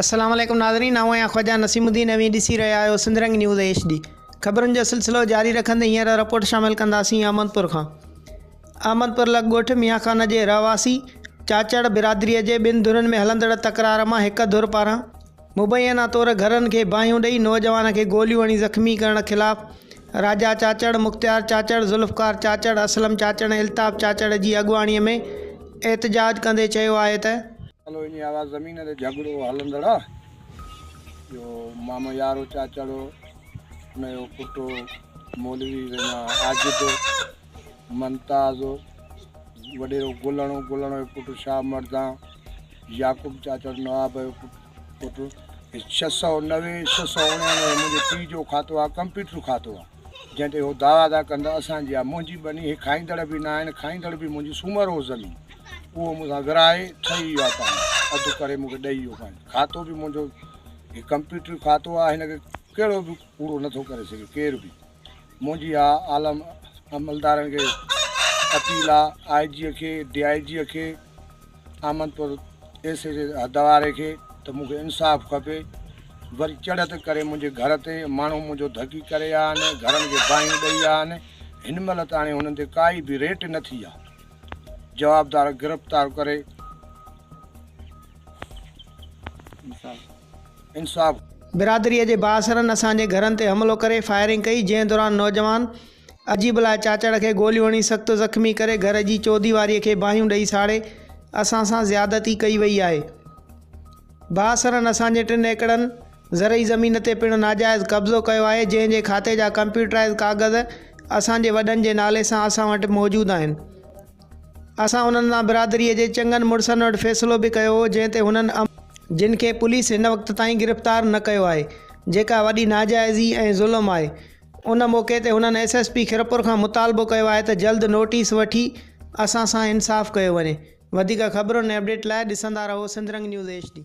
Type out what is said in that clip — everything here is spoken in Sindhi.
السلام عليڪم ناظرين آئون آهيان خواجا نسيم الدين اوهين ڏسي رهيا آهيو Sindh Rang news H D خبرن جو سلسلو جاري رکندي هينئر رپورٽ شامل ڪنداسين احمدپور کان احمدپور لڳ ڳوٺ ميان خان جي رهواسي چاچڙ برادري جي ٻن ڌرين ۾ هلندڙ تڪرار مان هڪ ڌر پاران مبينا طور گهرن کي باهيون ڏئي نوجوان کي گوليون هڻي زخمي ڪرڻ خلاف راجا چاچڙ، مختيار چاچڙ، ذوالفقار چاچڙ، اسلم چاچڙ ۽ الطاف چاچڙ جي اڳواڻي ۾ احتجاج ڪندي چيو آهي ته. هلو انهي آواز زمين تي جهڳڙو هلندڙ آ جو مامو يارو چاچڙ هو انهي جو پٽ هو مولوي وينا عاجد هو. ممتاز، وڏيرو گلڻو، گلڻو جو پٽ شاهه مردان، يعقوب چاچڙ نواب جو پٽ، پٽ ۽ ڇهه سؤ نوي، ڇهه سؤ اڻيانوي منهنجي پيء جو کاتو آهي، ڪمپيوٽر کاتو آهي، جنهن تي هو دعويٰ ٿا ڪن ته اسان جي آهي، منهنجي ٻني هي کائيندڙ به نه آهن، کائيندڙ به منهنجي سومر هو زمين، اهو مون سان ورهائي ٺهي ويو آهي پاڻي، اڌ ڪري مون کي ڏئي ويو پاڻي، کاتو به منهنجو، هي ڪمپيوٽر کاتو آهي، هن کي ڪهڙو به ڪوڙو نٿو ڪري سگهي ڪير به. منهنجي اها عالم عملدارن کي اپيل آ، آء جيء کي، ڊي آء جيء کي، آمدپور ايس ايڇ اي حدواري کي ته مون کي انصاف کپي. وري چڙهت ڪري منهنجي گهر تي ماڻهو منهنجو ڌڪي ڪري ويا آهن، گهرن کي باهيون ڏئي ويا آهن. هن مهل تاڻي هنن تي ڪائي به ريٽ نه ٿي آ. جوابدار گرفتار ڪري. انصاف. برادري جي بااثرن اسان جي گهرن تي حملو ڪري فائرنگ ڪئي جنهن دوران نوجوان عجيب الله چاچڙ کي گوليون هڻي سخت زخمي ڪري گهر جي چوديواري کي باهيون ڏئي ساڙي اسان سان زيادتي ڪئي وئي آهي بااثرن اسان جي ٽن ايڪڙن زرعي زمين تي پڻ ناجائز قبضو ڪيو آهي جنهن جي کاتي جا ڪمپيوٽرائيز ڪاغذ اسان جي وڏن جي نالي سان اسان وٽ موجود آهن. اسان انهن سان برادريء جي چڱن مڙسن وٽ فيصلو به ڪيو هو، جنهن تي هنن عمل. جن کي پوليس هن وقت تائين گرفتار نه ڪيو آهي، جيڪا وڏي ناجائزي ۽ ظلم آهي. ان موقعي تي هنن ايس ايس پي خيرپور کان مطالبو ڪيو آهي ته جلد نوٽيس وٺي اسان سان انصاف ڪيو وڃي. وڌيڪ خبرن ۽ اپڊيٽ لاء ڏسندا رهو سنڌرنگ نيوز ايڇ ڊي.